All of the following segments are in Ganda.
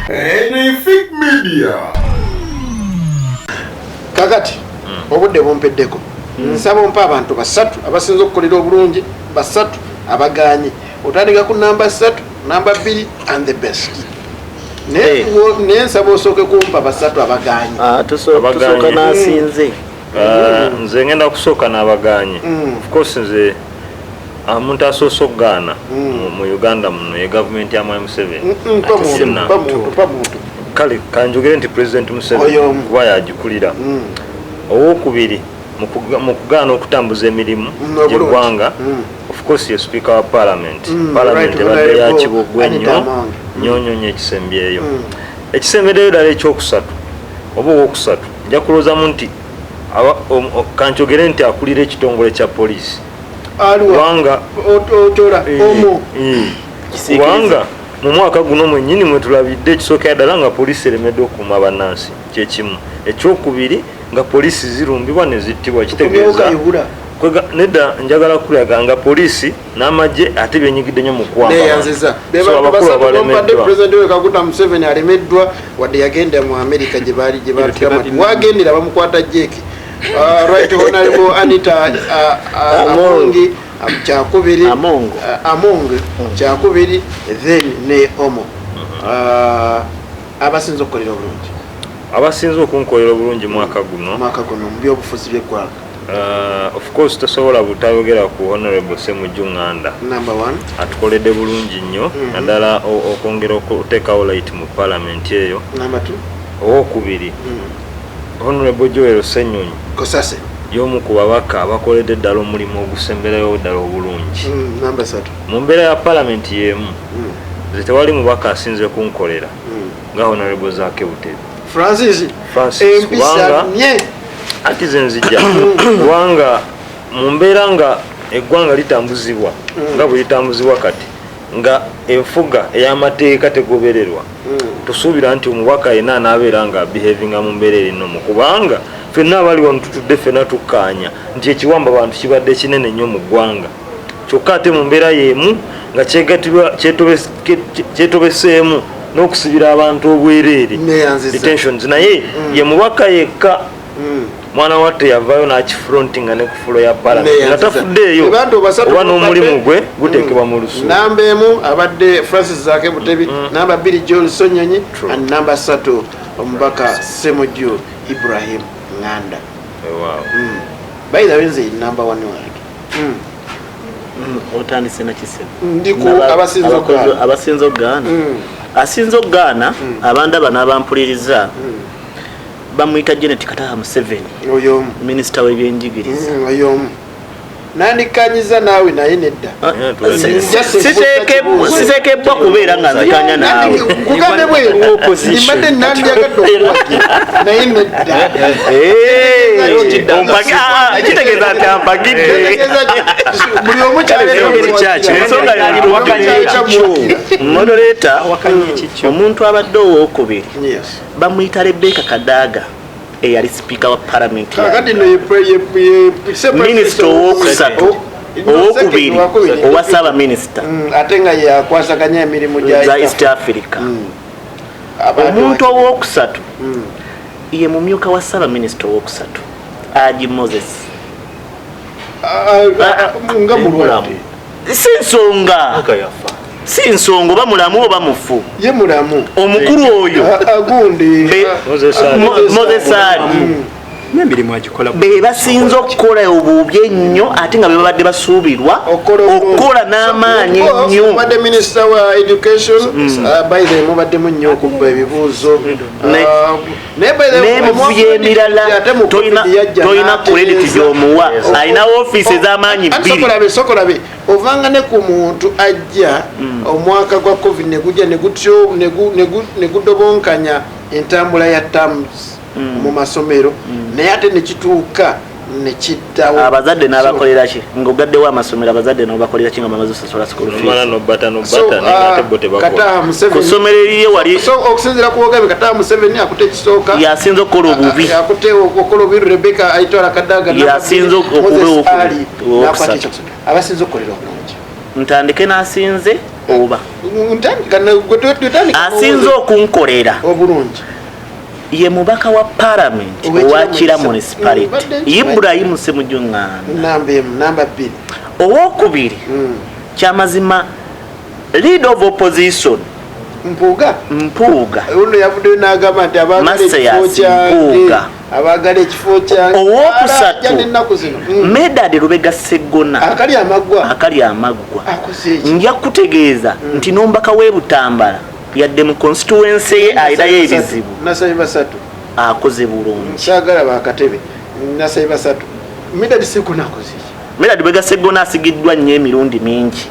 Anything Media. Kakati hmm. obudde bumpeddeko hmm. nsaba ompa abantu basatu abasinza okukolera obulungi basatu abaganye otandika ku namba satu namba bbiri and the best naye eh. nsaba osooke kumpa basatu abaganye ah, tusooka nasinze Ah, nze ngenda kusooka n'abagaanye mm. ofcourse nze omuntu ah, asoose okugaana mm. mu uganda muno ye gavumenti ya mwai museveni kale kanjogere nti president museveni kuba yagikulira mm. owokubiri mu kugaana okutambuza emirimu gyeggwanga ofcourse ye speaker wa parliament parliament ebadde yakibogwe nnyo nyonyonyo ekisembyeyo ekisembereyo dala ekyokusatu oba owokusatu Nja kulowoozamu nti kankyogere nti akulira ekitongole kya poliisi kubanga eh, eh, kubanga mu mwaka guno mwennyini mwe tulabidde ekisookera ddala nga poliisi eremeddwa okukuuma bannansi kyekimu ekyokubiri nga poliisi zirumbibwa ne zittibwa kitegeeza nedda njagala kulaga nga poliisi n'amagye ate byenyigidde nyo mukwaneyanziza bebantu basatu bompadde president we kaguta museveni alemeddwa wadde yagenda mu amerika gyebaali gyebatugamba nti wagendera bamukwata jeeki uh, right honorable anita uh, uh, amongi um, kyakubiri among hmm. kyakubiri then ne omo abasinza okukolera obulungi abasinza okunkolera obulungi mwaka guno mwaka guno mu byobufuzi byeggwanga Uh, of course tosobola butayogera ku honorable semujju nganda atukolede bulungi nnyo mhm. naddala okwongera okuteekawo light mu palamenti eyo owokubiri mhm. honorable joel senyonyi yomu ku babaka abakoledde ddala omulimu ogusemberayo ddala obulungi mhm, mu mbeera ya palamenti yemu nze tewali mubaka asinze kunkolera nga honorable zake butebi francis empisa nye akize nzija kubanga mu mbeera nga eggwanga litambuzibwa mm. nga bwe litambuzibwa kati nga enfuga ey'amateeka tegobererwa mm. tusuubira nti omubaka yena anaabeera nga behavinga mu mbeera erinomu kubanga fenna abali wano tutudde fenna tukkaanya nti ekiwamba bantu kibadde kinene nnyo mu ggwanga kyokka ate mu mbeera y'emu nga kyetobeseemu n'okusibira abantu obwereere detentions naye mm. ye mubaka yekka mm. mwana watte yavaayo n'akifrontinga ne ku fulo ya palamenti nga tafuddeeyo oba n'omulimu gwe guteekebwa mu lusu mm. namba emu abadde francis zake butebi namba bbiri john sonyonyi and namba satu omubaka semujju ibrahim nganda by the way nze number one wange otandise nakisebuabasinza okugaana asinza okugaana abandaba n'abampuliriza bamuyita janet kataha museveni minisita w'ebyenjigiriza nandikkanyiza naawe naye nedda ah, eh, sitekebbwa kubeera nga nzikanya naawe kugambe bwembadde nandyagadde okuwagira naye neddakitegeeza nti ampagidde buli omu kyalmodereta omuntu abadde owokubiri bamuyita rebeka kadaaga eyali sipiika wa palamenti minisita owokusatu oh, owokubiri owa ssaabaminisita mm, ate nga yakwasaganya emirimu gya east africa mm. omuntu owokusatu mm. ye mumyuka wa ssaabaminisita owokusatu aji moses ah, ah, ah, nga mulwalamu si nsonga si nsonga oba mulamu oba mufu ye mulamu omukulu oyo mozesari bebasinza okukola obubi ennyo ate nga bebabadde basuubirwa okukola n'amaanyi ennyoobadde minisita wa education mm. uh, by the mubaddemu nnyo okubba ebibuuzo uh, n'emivuyo emirala tolina kurediti gyomuwa alina ofiisi ez'amaanyi bbiriokolabe ovanga ne ku muntu ajja hmm. omwaka gwa covid negujja negudobonkanya entambula ya tams hmm. mu masomero hmm. naye ate nekituuka nekiddawo abazadde n'abakolera ki ngaogaddewo amasomero abazadde nobakolera ki nga bamaze osasula school feesku ssomero eriye wali okusinzira ku ogambe kata museveni akute ekisooka yasinza okukola obubi akute okukola obubi rebeka aitwala kadaga yasinza okubeokuali nakwata abasinza okukolera obulungi ntandike nasinze oba asinze okunkolera obulungi ye mubaka wa palamenti owa kira municipality ibrahim semujunganda owokubiri hmm. kyamazima lead of opposition mpuuga mpuuga ono yavuddeyo n'agamba nti abaagalekifokyange abaagala ekifo kyange owokusatu ennaku zino hmm. medadi lubega seggona akali amaggwa akali amaggwa nja kutegeeza hmm. nti n'ombaka w'e butambala yadde mu constituency ye ayinayo ebizibu nasabi basatu akoze bulungi kyagala bakatebe nasabi basatu midad sikunakoze midad bwegasegona asigiddwa nnyo emirundi mingi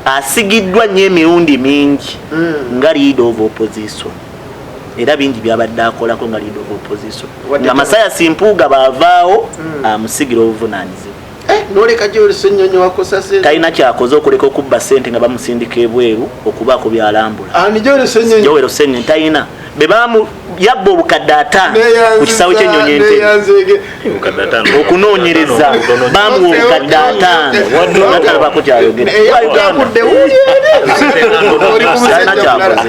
asigiddwa nnyo emirundi mingi hmm. nga lead of opposition era bingi byabadde akolako nga lead of opposition nga masaya simpuuga baavaawo hmm. amusigira obuvunanyizibwa Eh, noleka gyolesa ennyonyi wakosase talina kyakoze okuleka okubba sente nga bamusindika ebweru okubaako byalambula ani gyolesa ennyonyi gyolesa ennyonyi talina bebamu yabba obukadde ataano ku kisawo kyennyonyi ente okunoonyereza bamuwa obukadde ataano waddala bakukyayogera eh,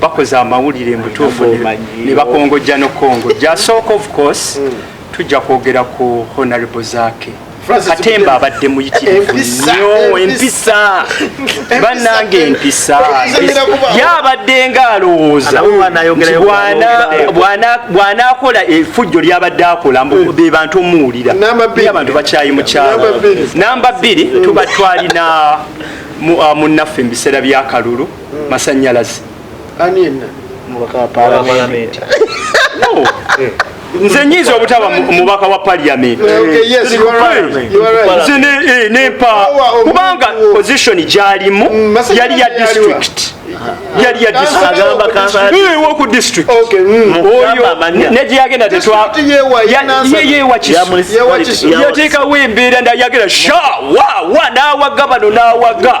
bakoze amawulire mutuufu ne bakongojja nokukongojja asooka of course mm. tujja kwogera ku honorable zake katemba abadde muyitirivu nyo empisa banange empisa yabadde nga alowooza bwanakola efujjo lyabadde akola hmm. be bantu omuwulira abantu bakyayi mukyalo namba bbiri tuba twalina munnaffe mu biseera byakalulu masanyalaze nze nyinza obutaba mubaka wa paliament nempa kubanga position gyalimu mm, yali ya district yali yawoku district negyeyagenda tetwayewakisoyatekawo embeera ndayagera sha wawa nawaga bano nawaga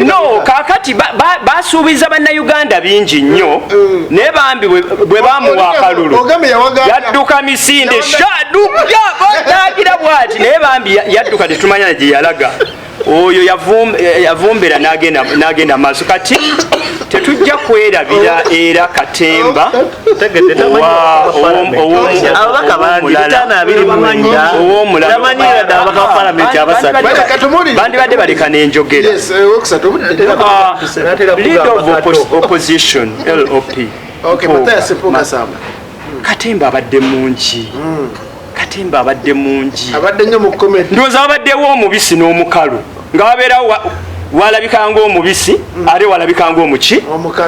no kakati basuubiza ba, ba bannayuganda bingi nnyo mm. naye bambi bwe bamuwa akalulu yadduka misinde shadukagira bwati naye bambi yadduka tetumanya na gye yalaga oyo yavumbera n'agenda maaso kati tetujja kwerabira era katemba oh, ababaka bangi bitaano abiri mwenda tamanyi yadde ababaka ba palamenti abasatu bandibadde baleka n'enjogera leader of opposition lop katemba abadde mungi hmm. katemba abadde mungi abadde nyo mu comedy ndoza abaddewo omubisi n'omukalu nga wabeera walabika ngaomubisi mm. ate walabika ngaomuki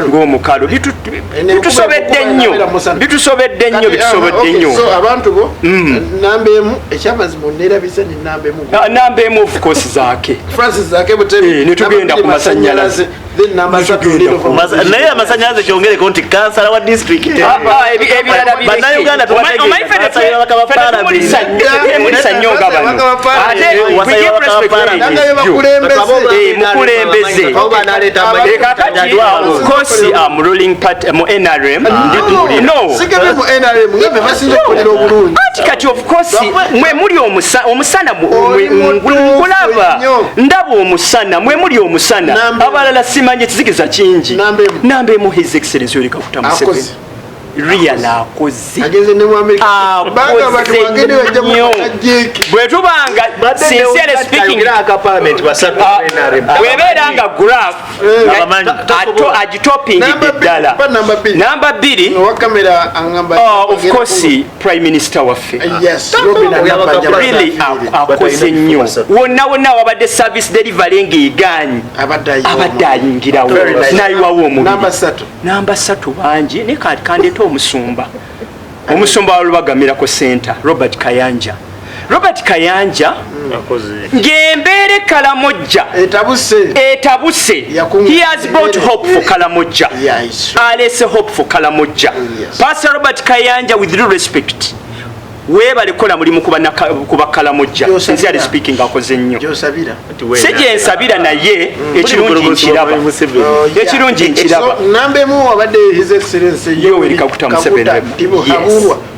ngaomukalu bitusobedde nnyo bitusobedde nnyo bitusobedde nnyo namba emu ofcourse zake netugenda ku masanyalaze naye amasanyalaze kyongereko nti kansala wa disitulikiti ah, ah, bannayuganda tubasaabakabapaalamenti kosi mwe muli omusana omusana ngulaba ndaba omusana mwe muli omusana abalala simanye kizikiza kingi namba emu his excellence yoleka kutamusebe real akoze bwetubanga bwebeera nga graf agitopingidde ddala namba bbiri prime minister waffe akoze nnyo wonna wonna awabadde service delivery ng'egaanyi abadde ayingirawo nayiwawo omubiri namba satu bangi naye kati kandeeta omusumba omusumba wa lubagamirako center robert kayanja robert kayanja ngembeere kalamojja etabuse he has brought hope for kalamojja alese hope for kalamojja pastor robert kayanja with real respect webale kola mulimu kuba kalamojja sincerely speaking akoze nnyo si gyensabira naye mm. ekirungi nkiraba oh, ekirungi nkiraba yoweri kaguta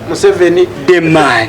museveni the man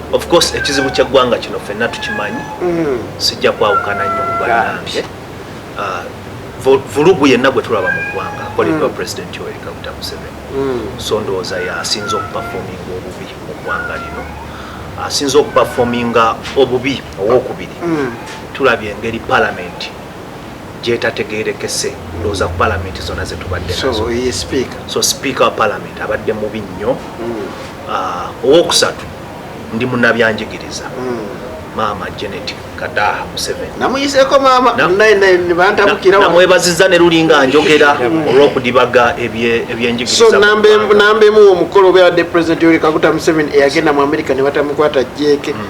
Of course ekizibu ky'eggwanga kino ffenna tukimanyi, mm. sijja kwawukana nnyo ku bannange. Ah, vulugu yenna gwe tulaba mu ggwanga akoleddwa mm. Pulezidenti Yoweri Kaguta Museveni, mm. so ndowooza y'asinze okupafominga obubi mu ggwanga lino, asinze okupafominga obubi owokubiri. Tulabye engeri palamenti gyetategerekese ndowooza ku palamenti zonna zetubadde nazo, so sipiika wa palamenti abadde mubi nnyo. Ah, owokusatu ndi munabyanjigiriza hmm. maama genet kadaha musevenamwebaziza ne lulinga njogera hmm. olwokudibaga ebyenjigirizanamba emu omukolo obeabadde president yoli kaguta museven eyagenda mu amerika ne batamukwata jeke hmm.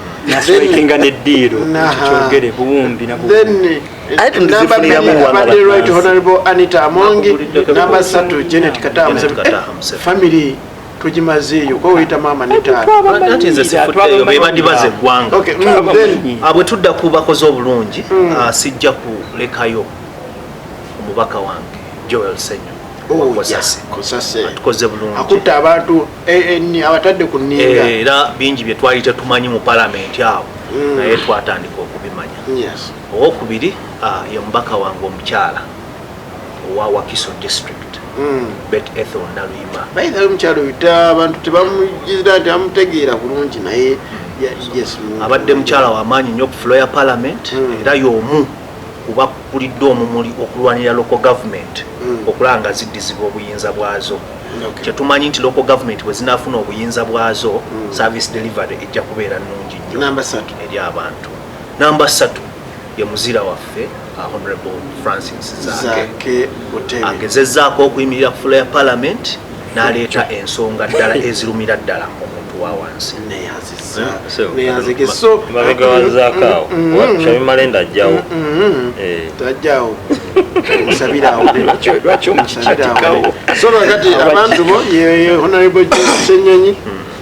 abadde right honorable anita amongi namba satu genet kadaha family tugimazeeyo kuba weyita maama ne taatabandibaza eggwanga mm, mm. ah, bwe tudda ku bakozi obulungi mm. ah, sijja kulekayo omubaka wange joel senyo atukoze bulungiakutta abantu abatadde ku ninga eh, era bingi bye twali tetumanyi mu palamenti awo naye twatandika okubimanya owokubiri ah, ye mubaka wange omukyala owa wakiso district hmm. bet ethel naluyima naye nali mukyalo yuta abantu tebamujizira nti amutegeera bulungi naye hmm. abadde mukyala wamaanyi nyo ku floya parliament hmm. era yomu kuba kulidde omumuli okulwanira local government okulaba nga ziddizibwa obuyinza bwazo kyetumanyi nti local government bwezinafuna obuyinza bwazo service delivery ejja kubeera nungi nyo eri abantu Namba satu ye muzira waffe uh, Honorable Francis Zaake agezezaako okuyimirira ku fula ya Parliament n'aleeta ensonga ddala ezirumira ddala omuntu wa wansi mabega wa Zaakaawo Shabi Malenda ajjawo tajjawo musabirawo lwaki omusabirawo so lwakati abantu bo ye Honorable Joseph Ssenyonyi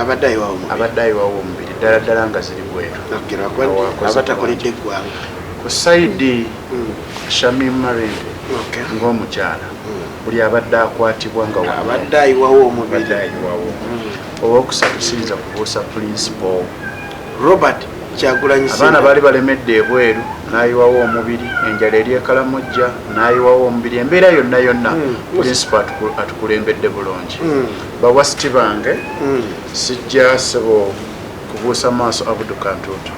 abadde ayiwawo omubiri abadde ayiwawo omubiri ddala ddala nga ziri bwetu abatakoledde eggwanga ku saidi mm. shamim marende ng'omukyala mm. buli abadde akwatibwa nga abadde ayiwawo omubiri ayiwawo mm. owokusatu siyinza kubuusa pulinsipo robert kyagulanyi abaana baali balemedde ebweru nayiwawo omubiri enjala eri ekalamujja nayiwawo omubiri embeera yonna yonna pulinsipo atukulembedde bulungi Bawasiti bange sijja sebo kubuusa maaso Abudu Kantuutu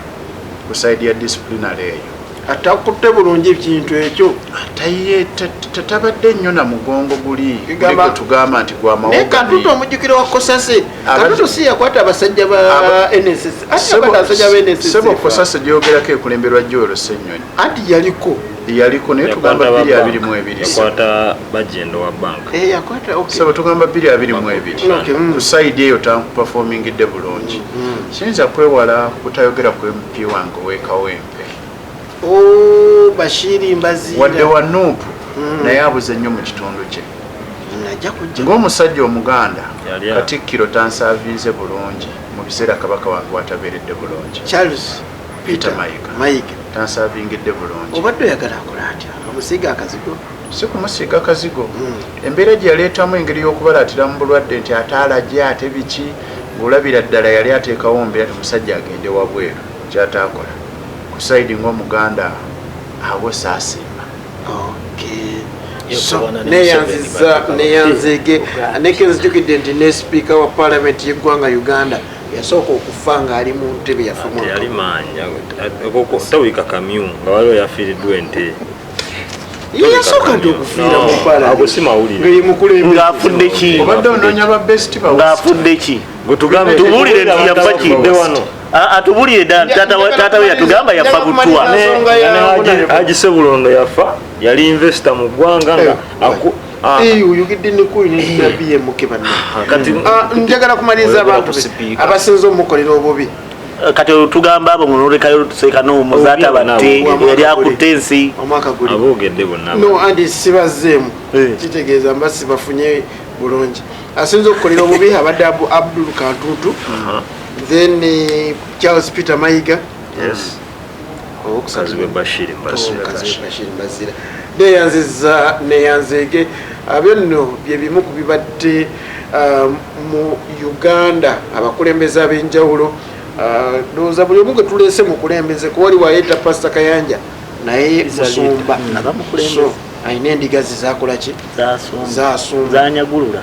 ku saidi ya disciplinary eyo. Atakutte bulungi kintu ekyo. Ataye tatabadde nnyo na mugongo guli gwe tugamba nti gwa mawoga. Naye Kantuutu omujjukira wa Kosase. Kantuutu si yakwata abasajja ba NSS. Ate yakwata abasajja ba NSS. Sebo Kosase gyogerako ekulemberwa Joel Ssenyonyi. Anti yaliko. yaliko naye tugamba bbiri abiri mu ebiri yakwata bajendo wa banka eh, yakwata saba tugamba bbiri abiri mu ebiri mm. ku sayidi eyo tampafomingidde bulungi mm. siyinza kwewala kutayogera ku mp wange owekawempe oh, bashiri mbaziira wadde wa nuupu mm. naye abuze nnyo mu kitundu kye ng'omusajja omuganda katikkiro tansaavinze bulungi mu biseera kabaka wange watabeeredde bulungi Peter Mayiga. Mayiga. Tansavingidde bulungi. Obadde oyagala akole atya? Amusiiga akazigo? Si kumusiiga kazigo. Hmm. Embeera gye yaleetamu engeri y'okubalaatira mu bulwadde nti ate alagye ate biki ng'olabira ddala yali ateekawo mbeera omusajja agende wabweru kyataakola ku saidi ng'omuganda abo saasiima. Okay. neyanziza neyanzeege nekenzijukidde nti ne sipiika wa paalamenti y'eggwanga uganda yasooka okufa ng'ali mu ntebe yafayali maanya tawika kamyu nga waliwo yafiiriddwa ente yeyasooka nti okufiira mupalangaafudde ki obadde onoonya ba best ng'afudde ki tubulire nti yafa ki atubulire taata we yatugamba yafa butwa agisebulondo yafa yali investo mu ggwanga nga Ah. Eh, oyogedde nekuli nebmk eh. ah, njagala kumaliriza abantu abasinza omukolera obubi eh, kati tugamba abo ngonolekayo sekanoomuzaata batte yali akutte ensi sibazeemu kitegeeza mba sibafunye bulungi asinza okukolera obubi abadde abdul kantutu then charles peter mayiga Kazibwe Bashir Mbazira neyanziza neyanzeege abyo nno bye bimu ku bibadde uh, mu Uganda abakulembeze ab'enjawulo uh, ndowooza buli omu gwe tuleese mukulembeze kuba wali wayeta pasita Kayanja naye musumba alina endiga ze zakola ki zasumba zanyagulula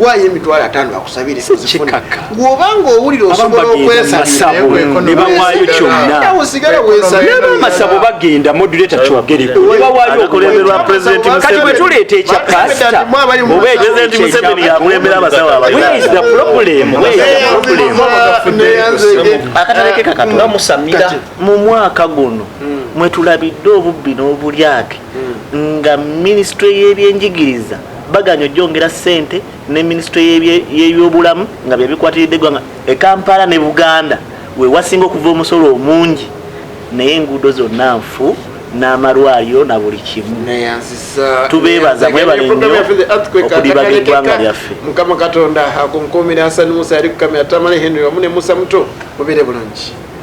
waayo emitwalo ataano akusabire gwobanga owulira osobola okwesanebawayo kyonaamasabo bagenda moduleta kyogerkati bwetuleeta ekya pasita mu mwaka guno hmm. mwetulabidde obubbi n'obulyake hmm. nga minisitule y'ebyenjigiriza baganye ojongera sente ne minisitule yebyobulamu nga byebikwatiridde eggwanga e kampala ne buganda wewasinga okuva omusolo omungi naye enguudo zonna nfu n'amalwaliro na buli kimu tubeebaza mwebale nnyo okudibaga eggwanga lyaffe mukama katonda akunkuumira asani musa yali kukamya tamale henry wamu ne musa muto mubire bulungi